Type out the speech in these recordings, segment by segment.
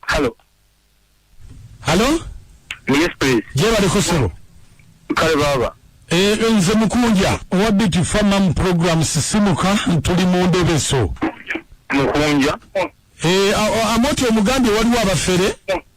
Hello. Hello? Yes, please. Jebale kusebo. Kale baba. Eh, nze mukunja owa Beauty Farm program sisimuka ntuli mu ndebeso. Mukunja. Eh, amoti omugambye waliwo abafere.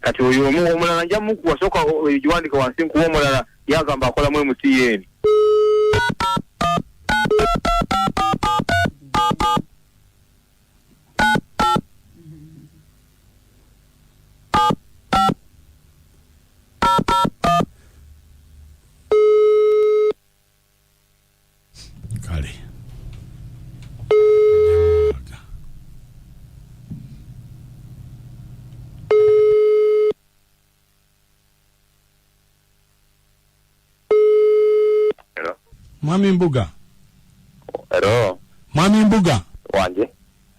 kati oyo omu omulala nja mukuwa soka oyo giwandika wansi nkuwa omulala yagamba akolamu emutn kale mwami mbuga Hello. mwami mbuga Wanje.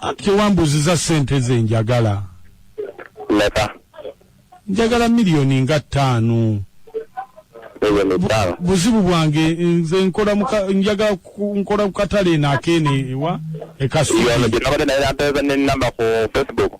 anti wambuziza sente ze njagala meka njagala miliyoni nga ttaano buzibu bwange nze nkola njagala nkola kukatale eno akeene ewa ekasiyonabadde naye nateeza nenamba ku facebook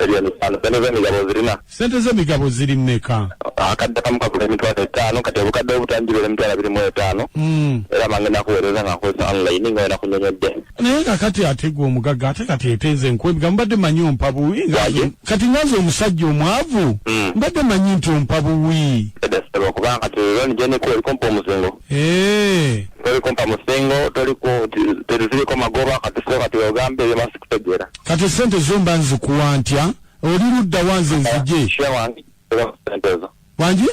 Miliyoni ttaano. Ssente z'emigabo zirina. Ssente z'emigabo ziri mmeka? Akadde kamu kagula emitwalo etaano kati obukadde obutaano gibeera emitwalo abiri mu etaano hmm. era bange nakuweereza nga nkozesa online nga wena kunyonyodde naye nga kati ate gwe omugagga ate kati eteeze nkwebga mbadde manyi ompa buwi kati ngaze omusajja omwavu hmm. mbadde manyi nti ompa buwi kubanga kati loni gyenikuwa eriko mpa omuzingo eh. toliko mpa musingo toliko teriziriko magoba kati so kati ogambe ebyo masikutegeera kati esente zo mba nzikuwa ntya oli ludda wa nze nzije wangi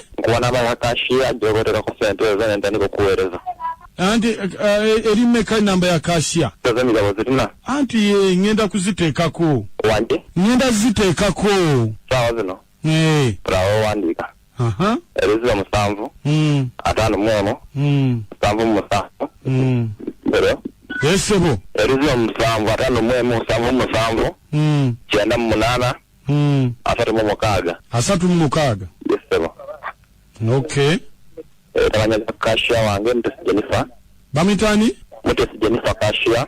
anti eh, eh, eri meka namba ya kashiya anti ye eh, ngenda kuziteekako ngenda ziteekako Eh. Tulawandiika. Aha. Erizira musanvu. Mm. Atano mwono. Mm. Musanvu musanvu. Mm. Hello. Yes sebo. Erizira musanvu atano mwemu musanvu musanvu. Mm. Kyenda mu munana. Mm. Asatu mu mukaaga. Asatu mu mukaaga. Yes sebo. Okay. Eh, tabanya kasha wange mtesi Jennifer. Bamitani? Mtesi Jennifer kasha.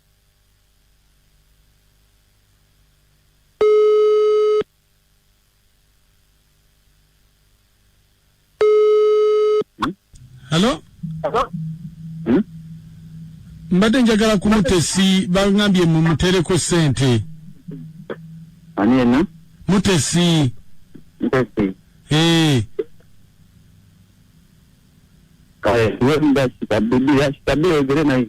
Hello? Hello? Hmm? mbadde njagala kumutesi bangambye mumutereko sente ani yena mutesi mutesi ee kale wemba kitabidi ya kitabidi ogere naye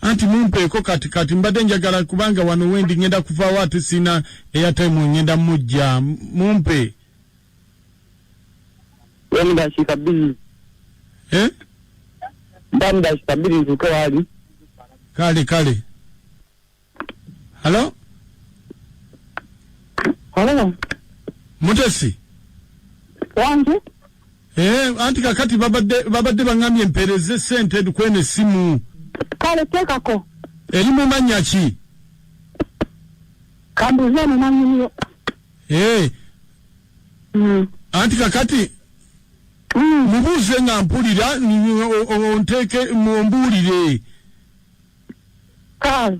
anti mumpeeko kati kati mbadde njagala kubanga wano wendi ngenda kuvaawo ate siina eyataimu ngenda mujja mumpe ndakika bbiri eh? mba mudakika bbiri ntuuke waali kale kale halo halo mutesi wange Eh, anti kakati babadde babadde bangambye mpereze sente dukwene simu. Kale tekako. Eri mu manya ki? Kambuze mu manya niyo. Eh. Mm. Anti kakati mm. mubuze nga mpulira onteke mu mbulire. Kale.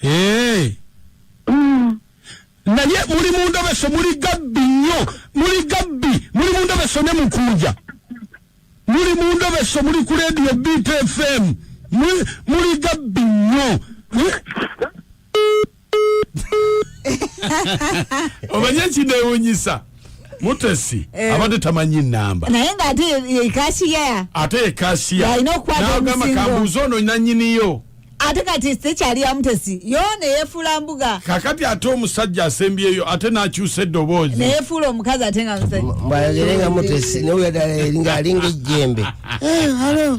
Hey. Mm. naye muli mu ndobeso muli gabbi nnyo muli gabbi muli mu ndobeso ne mukunja muli mu ndobeso muli ku leediyo bit fm muli gabbi nnyo omanye ekinewunyisa mutesi eh. abadde tamanyi namba naye nga ate yekasiya ate yekasiya nagamba kambuuza ono nanyiniyo ate kati tekyali yamutesi yo neyefuula mbuga kakati ate omusajja asembyeyo ate nakyusa eddoboozi neyefuula omukazi ate nga mbwayogere nga mutesi nawe yadala eringa alinga ejjembe eh,